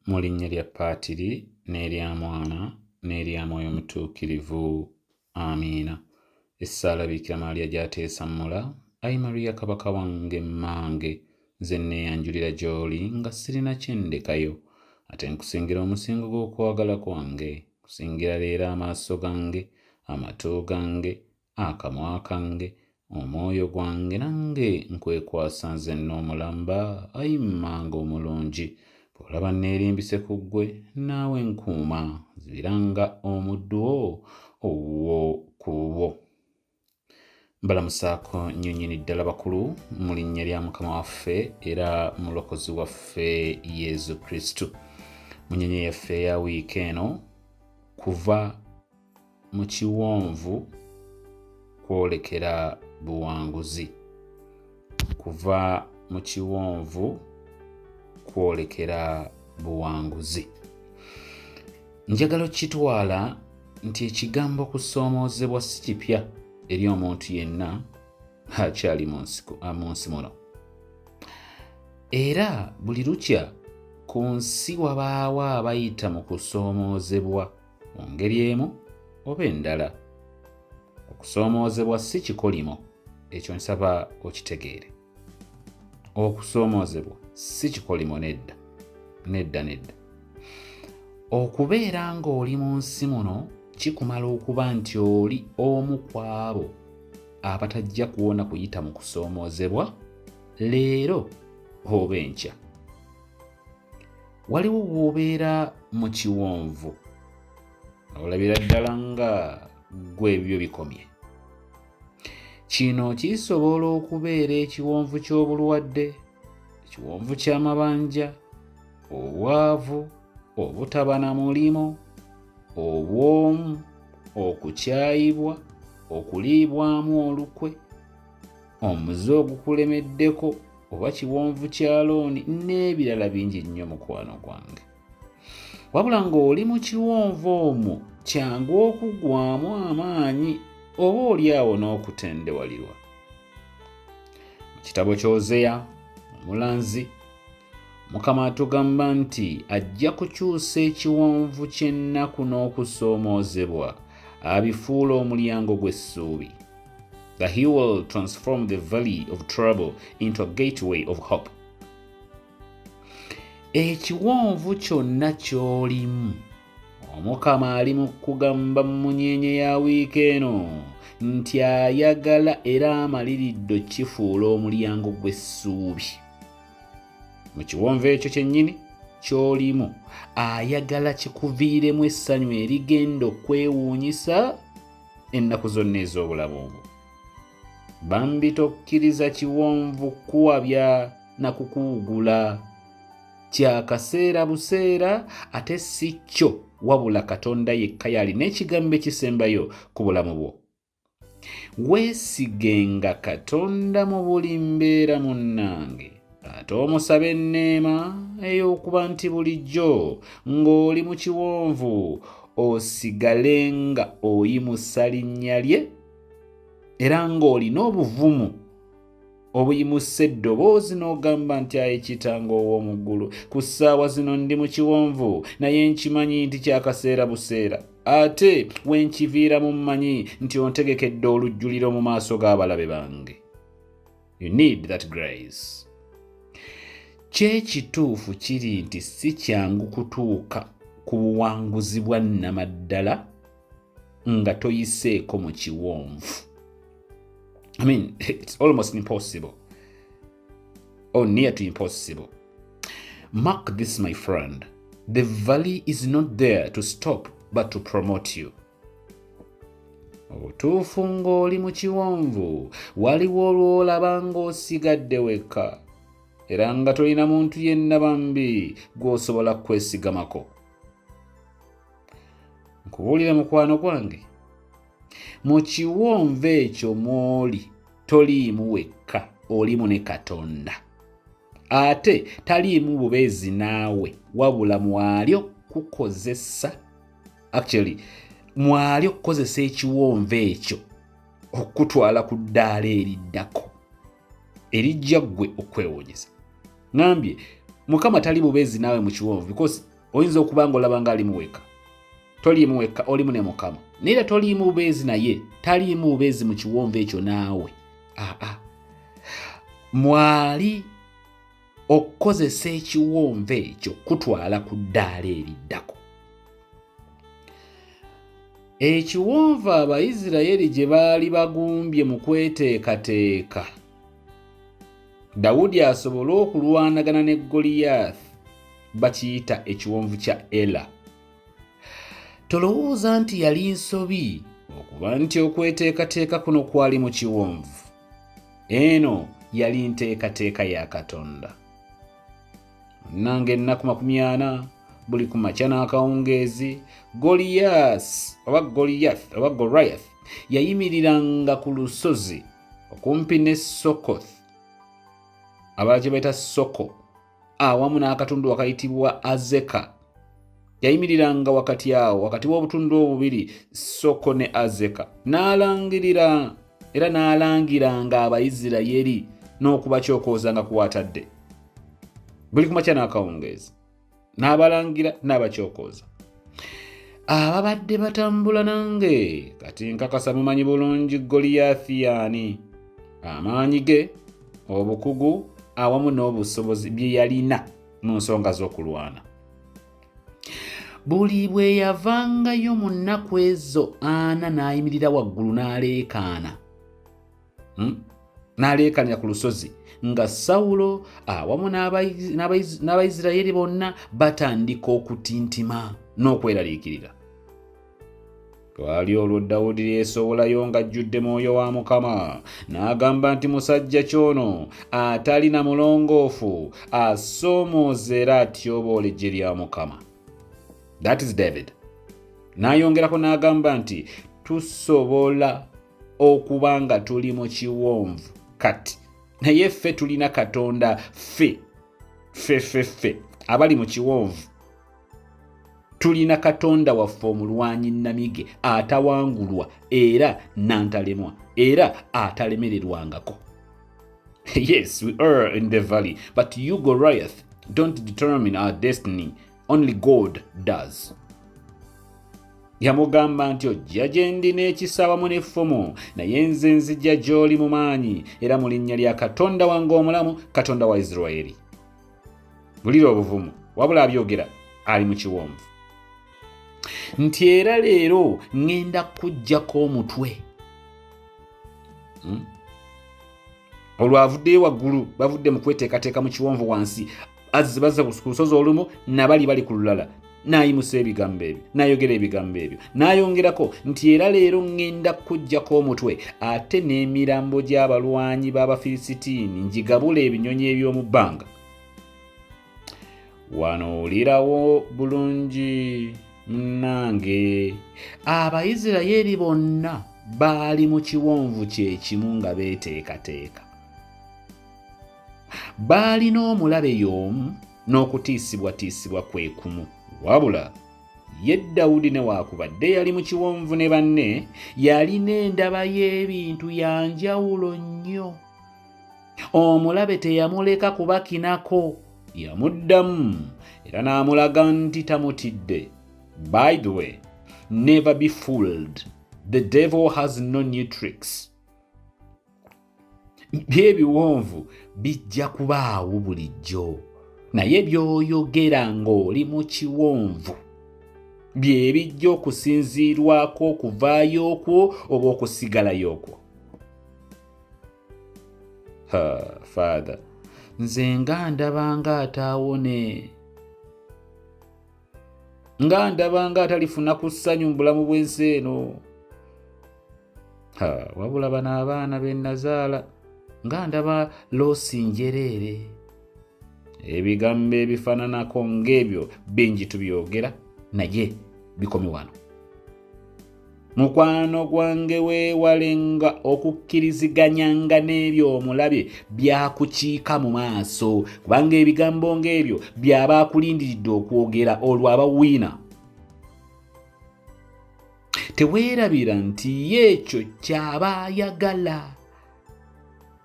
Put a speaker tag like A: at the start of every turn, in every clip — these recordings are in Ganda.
A: Mu linnya lya Paatiri n'erya Mwana n'erya Mwoyo Mutuukirivu. Amiina. Essaala Biikira Maaliya gy'ateesa mmula. Ayi Mariya Kabaka wange mmange, nze nneeyanjulira gy'oli nga sirina kye ndekayo. Ate nkusingira omusingo gw'okwagala kwange, nkusingira leero amaaso gange, amatu gange, akamwa kange omwoyo gwange nange nkwekwasa nze n'omulamba ayi mmanga omulungi bw'olaba nneerimbise ku ggwe naawe nkuuma zibiranga omuddu wo owuwo ku bubwo mbalamusaako nnyo nnyini ddala bakulu mu linnya lya mukama waffe era mulokozi waffe yezu kristu mu nyonyi yaffe eya wiiki eno kuva mu kiwonvu kwolekera buwanguzi kuva mu kiwonvu kwolekera buwanguzi njagala okitwala nti ekigambo kusoomoozebwa si kipya eri omuntu yenna akyali mu nsi muno era buli lukya ku nsi wabaawo abayita mu kusoomoozebwa mu ngeri emu oba endala. Okusoomoozebwa si kikolimo, ekyo nsaba okitegeere. Okusoomoozebwa si kikolimo nedda, nedda, nedda. Okubeera ng'oli mu nsi muno kikumala okuba nti oli omu ku abo abatajja kuwona kuyita mu kusoomoozebwa leero oba enkya. waliwo bw'obeera mu kiwonvu olabira ddala nga gwe ebyo bikomye kino kisobola okubeera ekiwonvu ky'obulwadde ekiwonvu ky'amabanja obwavu obutaba na mulimu obwomu okukyayibwa okuliibwamu olukwe omuze ogukulemeddeko oba kiwonvu kya looni n'ebirala bingi nnyo mukwano gwange wabula ng'oli mu kiwonvu omwo kyangu okuggwamu amaanyi oba oli awo n'okutendewalirwa mu kitabo ky'ozeya omulanzi mukama atugamba nti ajja kukyusa ekiwonvu ky'ennaku n'okusoomoozebwa abifuula omulyango gw'essuubi that he will transform the valley of trouble into a gateway of hope. Ekiwonvu kyonna ky'olimu omukama ali mu kugamba mu munyenye ya wiiki eno nti ayagala era amaliridde kifuula omulyango gw'essuubi mu kiwonvu ekyo kyennyini ky'olimu ayagala kikuviiremu essanyu erigenda okwewuunyisa ennaku zonna ez'obulamu obwo bambi tokkiriza kiwonvu kuwabya na kukuwugula kyakaseera buseera ate si kyo wabula katonda yekka yalina ekigambo ekisembayo ku bulamu bwo weesigenga katonda mu buli mbeera munnange ate omusaba enneema ey'okuba nti bulijjo ng'oli mu kiwonvu osigale nga oyimusa linnya lye era ng'olina obuvumu obuyimusa eddoboozi n'ogamba nti aye kitanga ow'omu ggulu ku ssaawa zino ndi mu kiwonvu naye nkimanyi nti kyakaseera buseera ate we nkiviiramu mmanyi nti ontegekedde olujjuliro mu maaso g'abalabe bange you need that grace kyekituufu kiri nti si kyangu kutuuka ku buwanguzi bwa nnamaddala nga toyiseeko mu kiwonvu i mean it's almost impossible or near to impossible mark this my friend the valley is not there to stop but to promote you mu butuufu ng'oli mu kiwonvu waliwo olw'olaba ng'osigadde wekka era nga tolina muntu yenna bambi gw'osobola kwesigamako nkubuulire mukwano gwange mu kiwonvu ekyo mw'oli toliimu wekka olimu ne katonda ate taliimu bubeezi naawe wabula mwalyo kukozesa actually mwali okukozesa ekiwonvu ekyo okukutwala ku ddaala eriddako erijja ggwe okwewuunyisa ngambye mukama tali bubeezi naawe mu kiwonvu because oyinza okuba nga olaba nga alimu weka toliimu wekka olimu ne mukama naye era toliimu bubeezi naye taliimu bubeezi mu kiwonvu ekyo naawe aa mwali okukozesa ekiwonvu ekyo kutwala ku ddaala eriddako ekiwonvu abaisiraeri gye baali bagumbye mu kweteekateeka dawudi asobole okulwanagana ne goliyaathi bakiyita ekiwonvu kya ela tolowooza nti yali nsobi okuba nti okweteekateeka kuno kwali mu kiwonvu Eno yali nteekateeka ya Katonda. Munnanga ennaku makumi ana buli ku makya n'akawungeezi Goliyas oba Goliyath oba Goliath yayimiriranga ku lusozi okumpi ne Sokoth abalaki baita Soko awamu n'akatundu wakayitibwa azeka yayimiriranga wakati awo wakati w'obutundu obubiri soko ne azeka n'alangirira era n'alangiranga abaisirayeri n'okubakyokooza nga kuwatadde buli kumakya n'akawungeezi n'abalangira n'abakyokooza ababadde batambula nange kati nkakasa mumanyi bulungi goliyathi yaani amaanyi ge obukugu awamu n'obusobozi bye yalina mu nsonga z'okulwana buli bwe yavangayo mu nnaku ezo ana n'ayimirira waggulu n'aleekaana hmm? n'aleekanya ku lusozi nga sawulo awamu n'abaisiraeri bonna batandika okutintima n'okweraliikirira twali olwo dawudi lyesowolayo ng'ajjudde mwoyo wa mukama n'agamba nti musajja kyono atali na mulongoofu asoomooza era atyoboola eggye lya mukama that is david n'ayongerako n'agamba nti tusobola okuba nga tuli mu kiwonvu kati naye ffe tulina katonda ffe ffe ffe ffe abali mu kiwonvu tulina katonda waffe omulwanyi namige atawangulwa era nantalemwa era atalemererwangako yes we are in the valley but you goriath don't determine our destiny only god does yamugamba nti ojja gye ndi n'ekisa wamu n'effumu naye nze nzija gy'oli mu maanyi era mu linnya lya katonda wange omulamu katonda wa isiraeri bulira obuvumu wabula abyogera ali mu kiwonvu nti era leero ŋŋenda kukuggyako omutwe hmm? olwavuddeyo waggulu bavudde mu kweteekateeka mu kiwonvu wansi azze bazza ku lusozi olumu nabali bali ku lulala n'ayimusa ebigambo ebyo n'ayogera ebigambo ebyo n'ayongerako nti era leero ŋŋenda kukuggyako omutwe ate n'emirambo gy'abalwanyi b'abafilisitiini ngigabula ebinyonyi eby'omu bbanga wano owulirawo bulungi munnange abaisirayeeri bonna baali mu kiwonvu kyekimu nga beeteekateeka baalina omulabe y'omu n'okutiisibwatiisibwa kwe kumu wabula ye dawudi newaakubadde yali mu kiwonvu ne banne yalina endaba y'ebintu ya njawulo nnyo omulabe teyamuleka kubakinako yamuddamu era n'amulaga nti tamutidde by the way never be fooled the devil has no new tricks byebiwonvu bijja kubaawo bulijjo naye by'oyogera ng'oli mu kiwonvu bye bijja okusinziirwako okuvaayo okwo oba okusigalayo okwo ha father nze nga ndaba nga ataawone nga ndaba nga atalifuna ku ssanyu mu bulamu bw'ensi eno ha wabula bano abaana be nazaala nga ndaba loosi njereere ebigambo ebifaananako ng'ebyo bingi tubyogera naye bikomi wano mukwano gwange weewalenga okukkiriziganyanga n'ebyo omulabe byakukiika mu maaso kubanga ebigambo ng'ebyo byaba akulindiridde okwogera olwo abawiina teweerabira nti ye ekyo kyaba ayagala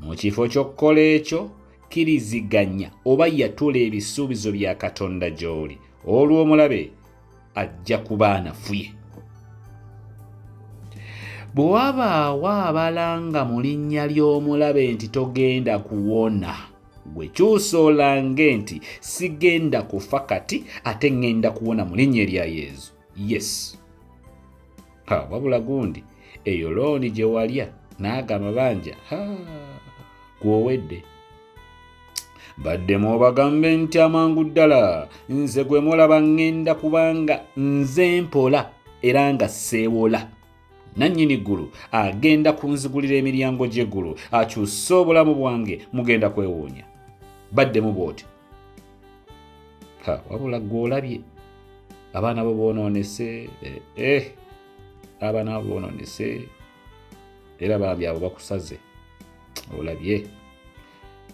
A: mu kifo ky'okukola ekyo kkiriziganya oba yatula ebisuubizo bya katonda gy'oli olw'omulabe ajja kuba anafuye bwe wabaawo abalanga mu linnya ly'omulabe nti togenda kuwona gwe kyusa olange nti sigenda kufa kati ate ŋŋenda kuwona mu linnya erya yezu yes ha wabula gundi eyo looni gye walya n'ago amabanja ha gwowedde baddemu obagambe nti amangu ddala nze gwe mulaba ŋŋenda kubanga nze mpola era nga seewola nannyini ggulu agenda kunzigulira emiryango gy'eggulu akyuse obulamu bwange mugenda kwewuunya baddemu bw'oti wabula gwe olabye abaana bo boonoonese eh, eh. abaana bo boonoonese era bambi abo bakusaze olabye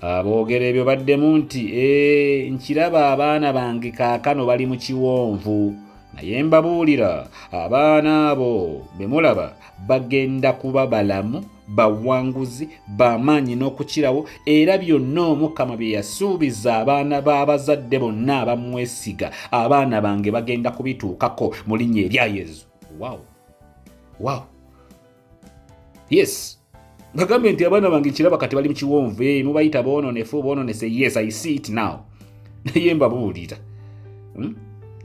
A: aboogera ebyo baddemu nti ee nkiraba abaana bange kaakano bali mu kiwonvu naye mbabuulira abaana abo be mulaba bagenda kuba balamu bawanguzi bamaanyi n'okukirawo era byonna omukama bye yasuubiza abaana b'abazadde bonna abamwesiga abaana bange bagenda kubituukako mu linnya erya yezu wawo wow yes bagambe nti abaana bange kiraba kati bali mukiwonvu eh, mubayita bononefu bononese yes i see it now naye mbabuulira hmm?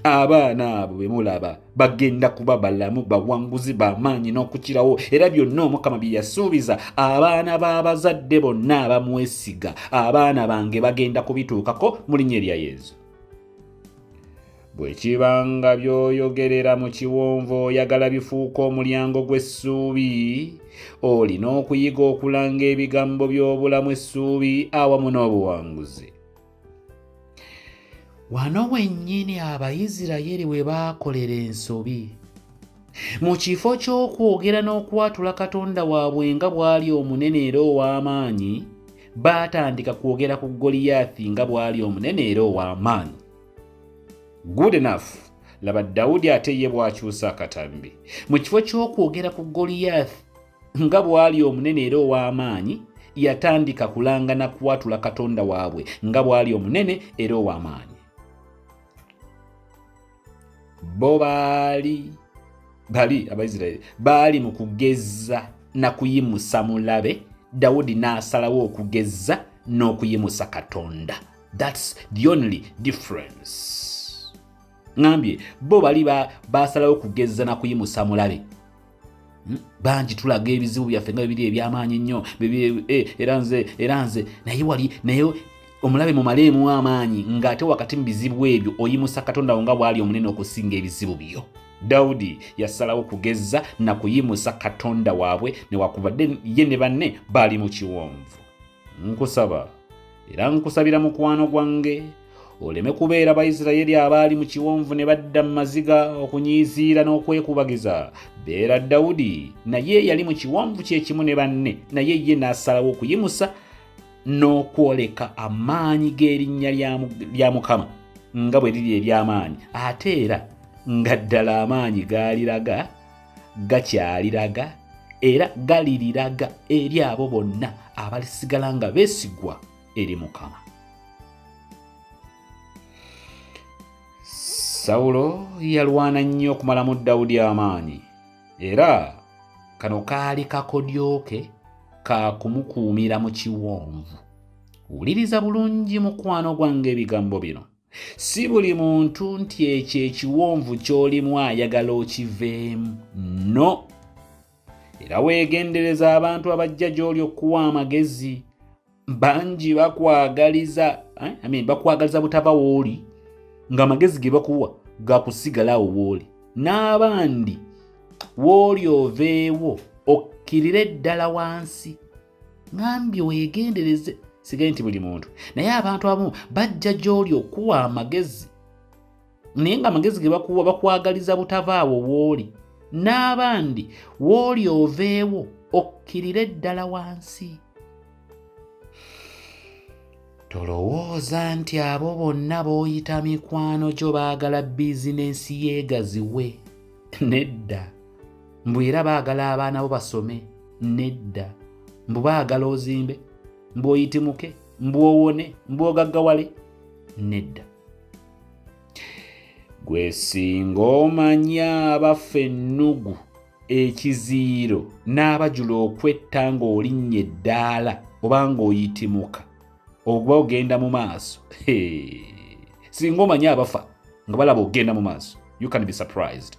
A: abaana abo bemulaba bagenda kuba balamu bawanguzi bamaanyi n'okukirawo era byonna omukama bye yasuubiza abaana b'abazadde bonna abamwesiga abaana bange bagenda kubituukako mu linnya erya yezu Bwe kiba nga by'oyogerera mu kiwonvu oyagala bifuuka omulyango gw'essuubi, olina okuyiga okulanga ebigambo by'obulamu essuubi awamu n'obuwanguzi. Wano wennyini Abayisirayiri we baakolera ensobi. Mu kifo ky'okwogera n'okwatula Katonda waabwe nga bw'ali omunene era ow'amaanyi, baatandika kwogera ku Goliyaasi nga bw'ali omunene era ow'amaanyi. good enough laba dawudi ate ye bwakyusa akatambi mu kifo ky'okwogera ku goliyath nga bw'ali omunene era ow'amaanyi yatandika kulangana kuwatula katonda waabwe nga bw'ali omunene era ow'amaanyi bo baali bali abaisiraeri baali mu kugezza na kuyimusa mulabe dawudi n'asalawo okugezza n'okuyimusa katonda That's the only difference. Ngambye bo bali basalawo kugezza na kuyimusa mulabe hmm? bangi tulaga ebizibu byaffe nga bibiri ebyamaanyi nnyo eh, era nze era nze naye wali naye omulabe mumaleemu amaanyi ng'ate wakati mu bizibu ebyo oyimusa katonda wo nga bw'ali omunene okusinga ebizibu byo dawudi yasalawo kugezza na kuyimusa katonda waabwe newakubadde ye ne banne baali mu kiwonvu Nkusaba era nkusabira mukwano gwange oleme kubeera baisiraeri abaali mu kiwonvu ne badda mu maziga okunyiiziira n'okwekubagiza beera dawudi naye yali mu kiwonvu kyekimu ne banne naye ye n'asalawo okuyimusa n'okwoleka amaanyi g'erinnya lya mukama nga bwe liri ery'amaanyi ate era nga ddala amaanyi gaaliraga gakyaliraga era galiriraga eri abo bonna abalisigala nga beesigwa eri mukama sawulo yalwana nnyo okumalamu dawudi amaanyi era kano kaali kakodyoke ka kumukuumira mu kiwonvu wuliriza bulungi mukwano gwange ebigambo bino si buli muntu nti ekyo ekiwonvu ky'olimu ayagala okiveemu no era weegendereza abantu abajja gy'oli okuwa amagezi bangi bakwagaliza eh, I mean, bakwagaliza butava wooli ng'amagezi ge bakuwa gakusigalawo wooli n'abandi wooli oveewo okkirire ddala wansi ŋambye weegendereze sigaye nti buli muntu naye abantu abamu bajja gy'oli okuwa amagezi naye nga amagezi ge bakuwa bakwagaliza butavaawo wooli n'abandi wooli oveewo okkirire ddala wansi Tolowooza nti abo bonna b'oyita mikwano gyo baagala bizinensi yeegaziwe. Nedda. Mbu era baagala abaana bo basome. Nedda. Mbu baagala ozimbe. Mbu oyitimuke. Mbu owone. Mbu ogaggawale. Nedda. Gwe singa omanya abaffe ennugu. ekiziyiro n'abajula okwetta ng'olinnya eddaala oba ng'oyitimuka oba ogenda mu maaso singa omanye abafa nga balaba ogenda mu maaso you can be surprised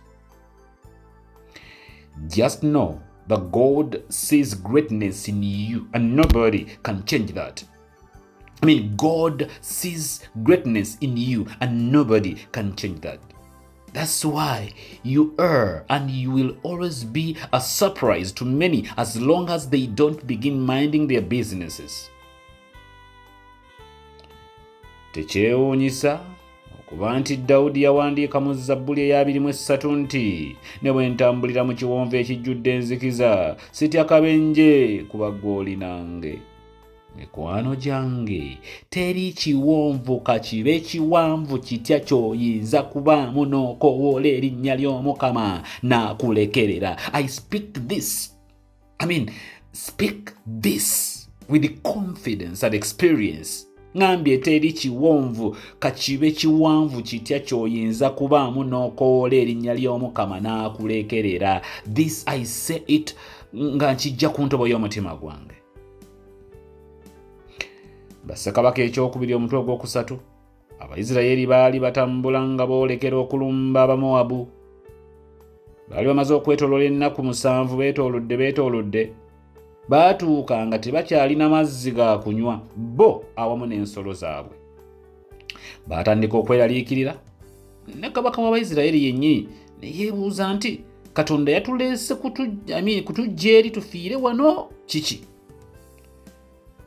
A: just know the god sees greatness in you and nobody can change that I mean, God sees greatness in you, and nobody can change that. That's why you are and you will always be a surprise to many as long as they don't begin minding their businesses. Tekyewuunyisa okuba nti Dawudi yawandiika mu Zabbuli ey'abiri mu essatu nti ne bwe ntambulira mu kiwonvu ekijjudde enzikiza sitya kabenje kuba gw'oli nange. mikwano gyange teri kiwonvu kakibe kiwanvu kitya kyoyinza kubaamu n'okowoola erinnya ly'omukama n'akulekerera i speak this i mean speak this with confidence and experience ŋambye teri kiwonvu kakibe kiwanvu kitya kyoyinza kubaamu n'okowoola erinnya ly'omukama n'akulekerera this i say it nga nkijja ku ntobo y'omutima gwange bassekabaka ekyokubiri omutwe ogwokusatu abaisiraeri baali batambula nga boolekera okulumba abamowabu baali bamaze okwetolola ennaku musanvu beetoolodde beetoolodde baatuuka nga tebakyalina mazzi ga kunywa bo awamu n'ensolo zaabwe Baatandika okweraliikirira, ne kabaka w'Abaisiraeri yennyini ne yeebuuza nti Katonda yatuleese kutujja eri tufiire wano kiki?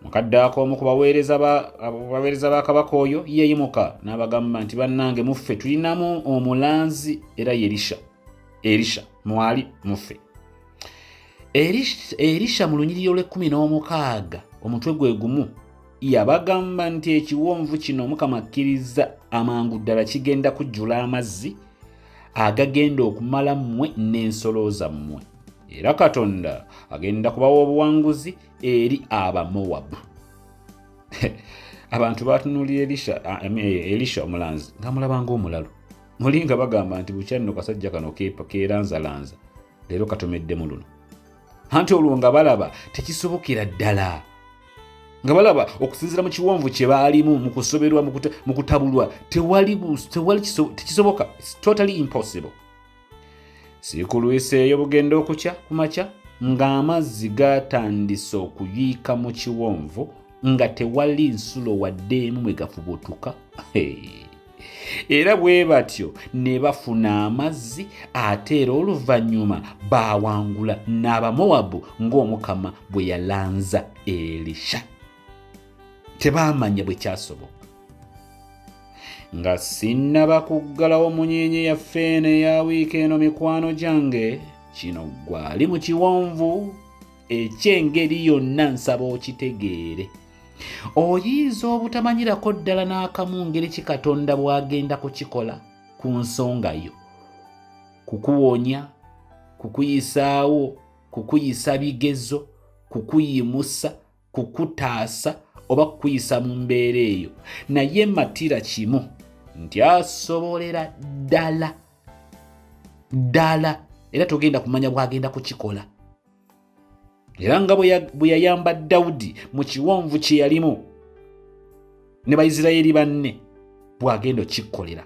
A: Mu kadde ako omu ku baweereza ba kabaka oyo yeeyimuka n'abagamba nti bannange muffe tulinamu omulanzi era Yerisha. Erisha mwali muffe. erisha mu lunyiriri olw'ekkumi n'omukaaga omutwe gwe gumu yabagamba nti ekiwonvu kino mukama akkirizza amangu ddala kigenda kujjula amazzi agagenda okumala mmwe n'ensolo zammwe era katonda agenda kubawa obuwanguzi eri abamowabu abantu batunulira elisha eh, elisha omulanzi nga mulabanga omulalu mulinga bagamba nti bukyanno kasajja kano keeranzalanza leero katomeddemu luno anti olwo nga balaba tekisobokera ddala nga balaba okusinzira mu kiwonvu kye baalimu mu kusoberwa mu kutabulwa tewali tekisoboka totally impossible sikulwiseeyo bugenda okukya ku makya ng'amazzi gatandise okuyiika mu kiwonvu nga tewali nsulo wadde emu mwe gafubutuka hey. era bwe batyo ne bafuna amazzi ate era oluvannyuma baawangula n'abamowabu ng'omukama bwe yalanza elisha tebaamanya bwe kyasoboka nga sinnaba kuggalawo munyenye yaffe eno eya wiiki eno mikwano gyange kino gwali mu kiwonvu eky'engeri yonna nsaba okitegeere oyinza obutamanyirako ddala n'akamu ngeri ki katonda bw'agenda kukikola ku nsonga yo kukuwonya kukuyisaawo kukuyisa bigezo kukuyimusa kukutaasa oba kukuyisa mu mbeera eyo naye matira kimu nti asobolera ddala ddala era togenda kumanya bwagenda kukikola era nga bwe yayamba dawudi mu kiwonvu kye yalimu ne baisiraeri banne bw'agenda okikkolera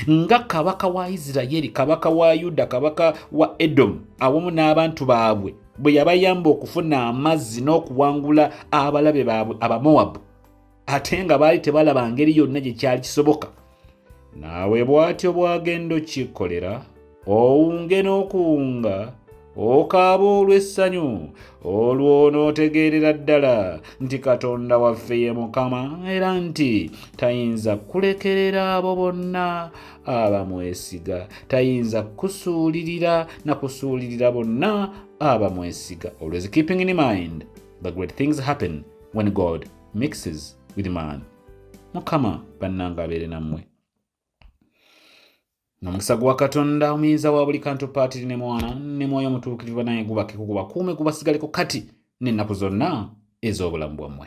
A: nga kabaka wa isiraeri kabaka wa yuda kabaka wa edomu awamu n'abantu baabwe bwe yabayamba okufuna amazzi n'okuwangula abalabe baabwe abamowabu ate nga baali tebalaba ngeri yonna gye kyali kisoboka naawe bw'atyo bw'agenda okikkolera owunge n'okuwunga okaaba olw'essanyu olwo onootegeerera ddala nti katonda waffe ye mukama era nti tayinza kulekerera abo bonna abamwesiga tayinza kusuulirira na kusuulirira bonna abamwesiga always keeping in mind the great things happen when god mixes with man mukama bannanga abeere nammwe nomukisa gwa katonda omuyinza wa buli kantu paatiri ne mwana ne mwoyo omutuukirivu banaye gubakeko gubakuume gubasigaleko kati n'ennaku zonna ez'obulamu bwammwe